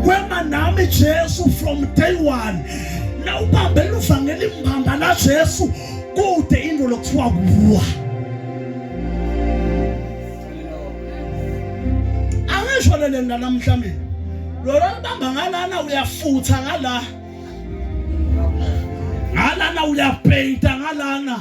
Wema nami Jesu from day one. Na ubambe luvangeli mbamba la Jesu kude into lokuthiwa kuwa. Angisho lele namhla mina. Lona libamba ngalana uyafutha ngala. Ngalana uyapainta ngalana.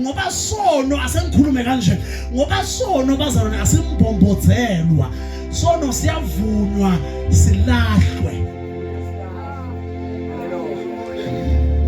ngoba sono asengikhulume kanje ngoba sono bazalwane asimbombozelwa sono siyavunywa silahlwe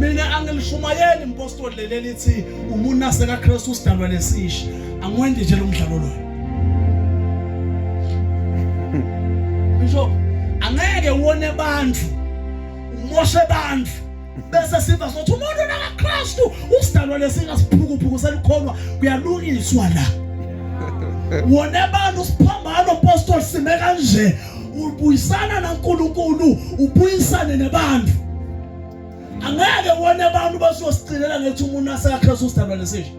mina angilishumayeli impostoli leli lithi umuntu aseka Kristu sidalwa lesisha angwendi nje lomdlalo lo ngisho angeke uwone abantu umoshe abantu bese siva sothi umuntu nakaKristu usidalwa lesingasiphukuphukuse likhonwa kuyalungiswa la wona abantu siphambano apostle sime kanje ubuyisana naNkulunkulu ubuyisane nebantu angeke wona abantu basosicelela ngethi umuntu asakhe sosidalwa lesisho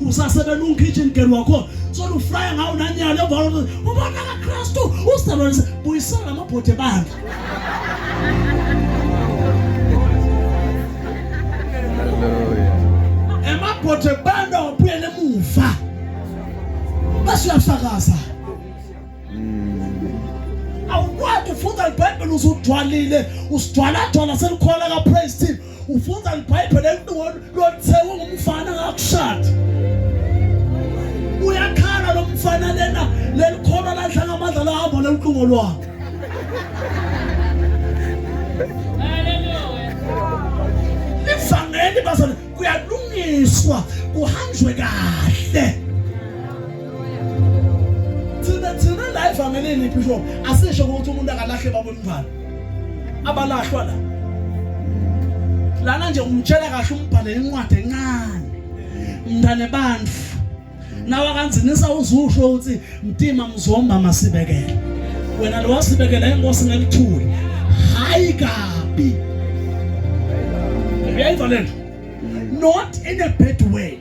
usasebenza ungikitchen girl wakhona sona ufraya ngawo nanyalo emva kwalokho ubona kaKristu usebenza buyisela lamabhodwe bandla emabhodwe bandla wabuyela emuva bese uyafakaza awukwazi ufunda ibhayibheli usugcwalile usigcwaladcwala selikhola ka praise team ufunda libhayibheli elinqono lothe ungumfana ngakushada uyakhala lo mfana lena lelikhona ladla ngamandla lahamba leliqungo lwakhe livangeli bazana kuyalungiswa kuhanjwe kahle thina thina la evangelini bishop asisho ukuthi umuntu akalahle babomngane abalahlwa la lana nje umtshela kahle umbhale incwadi encane mntane bandla nawe akanzinisa uzusho ukuthi mtima mzomba masibekele wena lo wasibekela inkosi ngelithuli hayi kabi uyayiva lento not in a bad way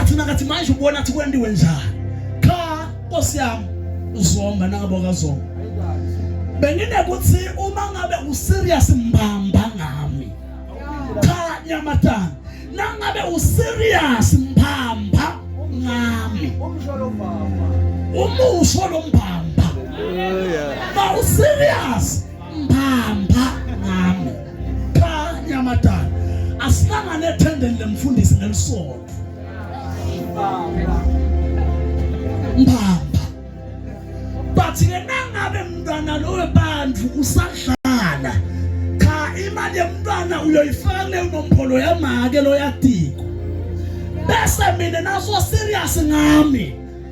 athina kathi manje ubona athi kwendiwe njani cha nkosi yami uzomba nangabo kazomba bengine kuthi uma ngabe userious mbamba ngami cha nyamatana nangabe userious mbamba ngami umsholo mbamba umusho lo mbamba yeah. Now serious. mbamba ngami kanye amadala asihlangane ethendeni lemfundisi nelisodwa mbamba bathi ke nangabe mntwana lowe bandlu usadlala cha imali yemntwana uyoyifaka leyo nompholo yamake loyadiko bese mina naso serious ngami